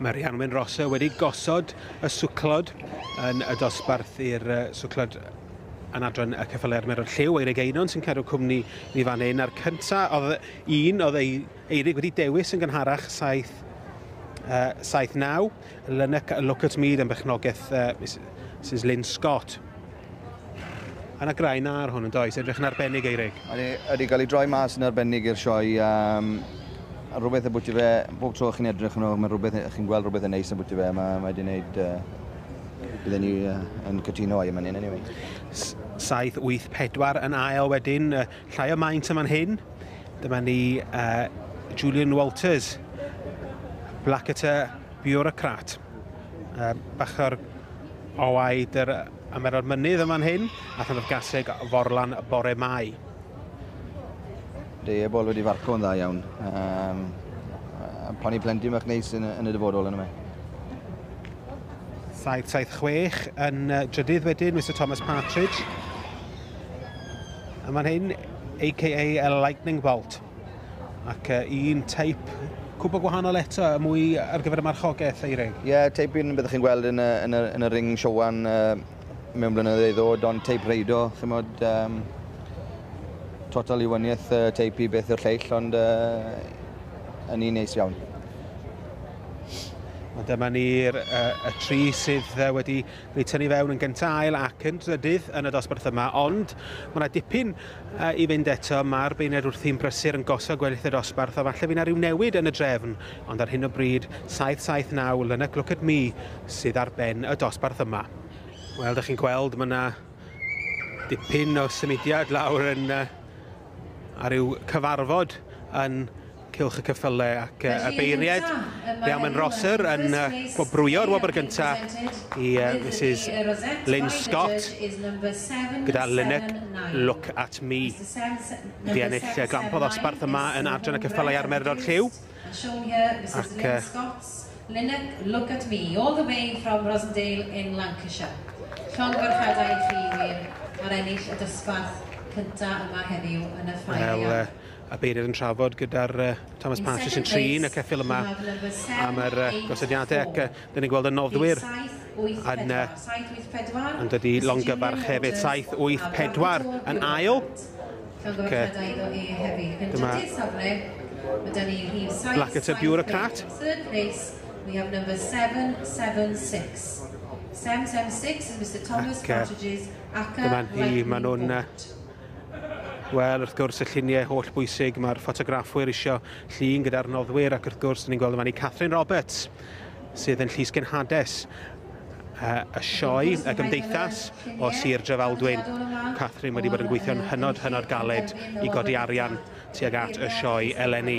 Mae Rhianwen Rosa wedi gosod y swclod yn y dosbarth i'r swclod yn adran y ceffylau a'r meron lliw, Eirig Einon sy'n cadw cwmni ni fan hyn, a'r cyntaf oedd un oedd ei Eirig wedi dewis yn gynharach 7, uh, 7 9, Lynyc a Look at Mead yn bechnogaeth uh, Mrs Lynn Scott. Yna grain ar hwn yn does, edrych yn arbennig Eirig. Ydy, ydy gael ei droi mas yn arbennig i'r sioe. Um, rhywbeth y bwyty fe, bob tro chi'n edrych yn ôl, mae rhywbeth, chi'n gweld rhywbeth yn neis yn bwyty fe, mae wedi gwneud, uh, bydden ni uh, yn cytuno a'i yma ni'n anyway. 7-8-4 yn ail wedyn, Llai o maint yn fan hyn. Dyma ni uh, Julian Walters, Blackwater bureaucrat. Uh, bach o'r owaid yr ymero'r mynydd yma'n hyn, a than o'r gaseg forlan bore mai. Dei ebol wedi farco yn dda iawn. Um, pan i plentyn bach neis yn, yn y dyfodol yn yma. 776 yn drydydd wedyn, Mr Thomas Partridge. A mae'n hyn, a.k.a. a lightning bolt. Ac uh, un teip cwbl gwahanol eto, y mwy ar gyfer y marchogaeth, Eirig. Ie, yeah, teip un byddwch chi'n gweld yn y, yn y, yn y ring siowan uh, mewn blynyddoedd ei ddod, ond teip reido, chi'n modd, um, total i wyniaeth uh, teip i beth o'r lleill, ond uh, yn un neis iawn. Ond dyma ni'r uh, y tri sydd uh, wedi Ni'n tynnu fewn yn gyntail ac yn drydydd yn y dosbarth yma, ond mae yna dipyn uh, i fynd eto. Mae'r beuned wrthi'n brysur yn gosod gweddill y dosbarth, a falle fydd yna rhyw newid yn y drefn, ond ar hyn o bryd, 7-7-9, Lynyc Look at Me sydd ar ben y dosbarth yma. Wel, ydych chi'n gweld, mae yna dipyn o symudiad lawr yn, uh, ar ryw cyfarfod yn Cylch y ceffyle ac y beiriaid. Iawn, mae'n Rosser yn gwobrwyo'r wobr gyntaf i Mrs Lynn Scott gyda Lynette Look at Me. Wedi ennill glampo ddosbarth yma yn Adran y Ceffylau a'r Merlod Lliw. Ac Lynette Look at Me, all the way from Rosendale in Lancashire. Llongyfarchiadau i chi wir ar ennill y dosbarth cyntaf yma heddiw yn y Ffair Iau. a Beirdd yn trafod gyda'r uh, Thomas Partridge yn trin y ceffil yma am yr uh, gosodiadau ac uh, dyn ni'n gweld y noddwyr yn, uh, yn dod i longyfarch hefyd 7-8-4 yn ail ac, uh, dyma Blackett y bureaucrat We have number 776 776 is Mr Thomas Partridge's Dyma hi, maen nhw'n Wel, wrth gwrs, y lluniau holl bwysig mae'r ffotograffwyr isio llun gyda'r noddwyr ac wrth gwrs, ni'n gweld yn fan i Catherine Roberts, sydd yn Llysgen Hades, y sioe, y gymdeithas o Sir Drefaldwyn. Catherine wedi bod yn gweithio'n hynod, hynod galed i godi arian tuag at y sioe eleni.